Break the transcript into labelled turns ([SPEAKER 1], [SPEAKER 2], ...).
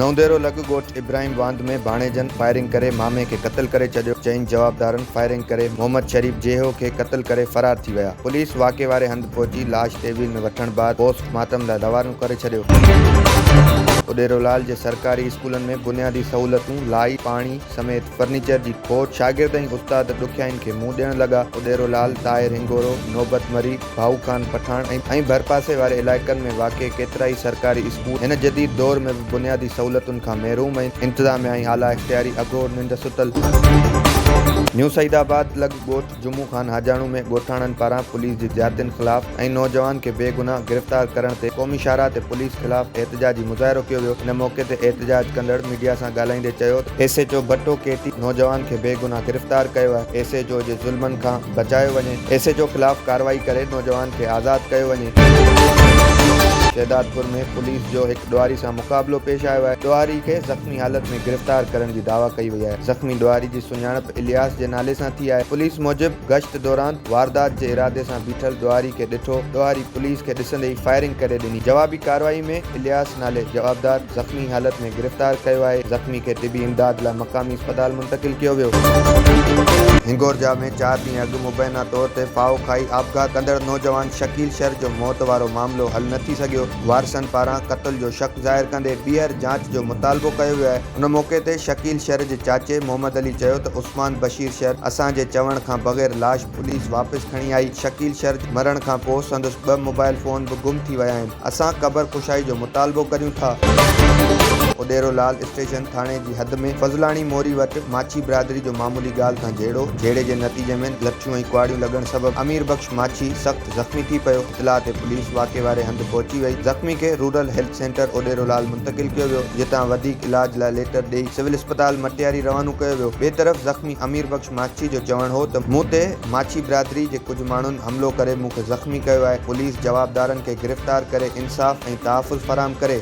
[SPEAKER 1] نونديرو لڳ ڳوٺ ابراهيم واند ۾ ڀاڻيجن فائرنگ ڪري مامي کي قتل ڪري ڇڏيو، چئن جوابدارن فائرنگ ڪري محمد شريف جيهو کي قتل ڪري فرار ٿي ويا، پوليس واقعي واري هنڌ پهچي لاش تي ويل ۾ وٺڻ بعد پوسٽ مارٽم لاء روانو ڪري ڇڏيو. اڏيرولال جي سرڪاري اسڪولن ۾ بنيادي سهولتون، لائيٽ، پاڻي، سميت فرنيچر جي کوٽ، شاگرد ۽ استاد ڏکيائين کي منهن ڏيڻ لڳا. اڏيرو لال، طاهر هنگورو، نوبت مري، ڀائو خان پٺاڻ ۽ ڀرپاسي واري علائقن ۾ واقع ڪيترائي سرڪاري اسڪول هن جديد دور ۾ به بنيادي سهولتن کان محروم ۽ انتظاميا ۽ اعليٰ اختياري اگهور ننڊ ستل. نيو سعيد آباد لڳ ڳوٺ. جمعو خان حاجاڻو ۾ ڳوٺاڻن پاران پوليس جي زيادتين خلاف ۽ نوجوان کي بيگناهه گرفتار ڪرڻ تي قومي شاهراهه تي پوليس خلاف احتجاجي مظاهرو ڪيو ويو ان موقعي تي احتجاج ڪندڙ ميڊيا سان ڳالهائيندي چيو ته ايس ايچ او ڀٽو ڪي ٽي نوجوان کي بيگناهه گرفتار ڪيو آهي ايس ايچ او جي ظلمن کان بچايو وڃي ايس ايچ او خلاف ڪارروائي ڪري نوجوان کي آزاد ڪيو وڃي. شهدادپور ۾ پوليس جو هڪ ڏوهاري سان مقابلو پيش آيو آهي ڏوهاري کي زخمي حالت ۾ گرفتار ڪرڻ جي دعويٰ ڪئي وئي آهي زخمي ڏوهاري جي. سڃاڻپ الياس جي نالي سان ٿي آهي. پوليس موجب گشت دوران واردات جي ارادي سان بيٺل ڏوهاري کي ڏٺو، ڏوهاري پوليس کي ڏسندي ئي فائرنگ ڪري ڏني، جوابي ڪارروائي ۾ الياس نالي جوابدار زخمي حالت ۾ گرفتار ڪيو آهي، زخمي کي طبي امداد لاء مقامي اسپتال منتقل ڪيو ويو. هنگورجا ۾ چار ڏينهن اڳ مبينا طور تي ڦاهو کائي آپگهات ڪندڙ نوجوان شڪيل شر جو موت وارو معاملو حل نه ٿي سگهيو، وارثن پاران قتل جو شڪ ظاهر ڪندي ٻيهر جاچ جو مطالبو ڪيو ويو آهي. ان موقعي تي شڪيل شر جي چاچي محمد علي چيو ته عثمان بشير شر اسان جي چوڻ کان بغير لاش پوليس واپس کڻي آئي، شڪيل شر جي مرڻ کان پوء سندس ٻه موبائل فون به گم ٿي ويا آهن، اسان قبر ڪشائي جو مطالبو ڪريون ٿا. اڏيرو لال اسٽيشن ٿاڻي جي حد ۾ فضلاڻي موري وٽ ماڇي برادري جو معمولي ڳالهه کان جهيڙو جهيڙي جي نتيجي ۾ لٺيون ۽ ڪهاڙيون لڳڻ سبب امير بخش ماڇي سخت زخمي ٿي پيو، اطلاع تي پوليس واقعي واري هنڌ پهچي وئي، زخمي کي رورل هيلٿ سينٽر اوڏيرولال منتقل ڪيو ويو، جتان وڌيڪ علاج لاء ليٽر ڏئي سول اسپتال مٽياري روانو ڪيو ويو، ٻئي طرف زخمي امير بخش ماڇي جو چوڻ هو ته مون تي ماڇي برادري جي ڪجهه ماڻهن حملو ڪري مون کي زخمي ڪيو آهي، پوليس جوابدارن کي گرفتار ڪري انصاف ۽ تحفظ فراهم ڪري.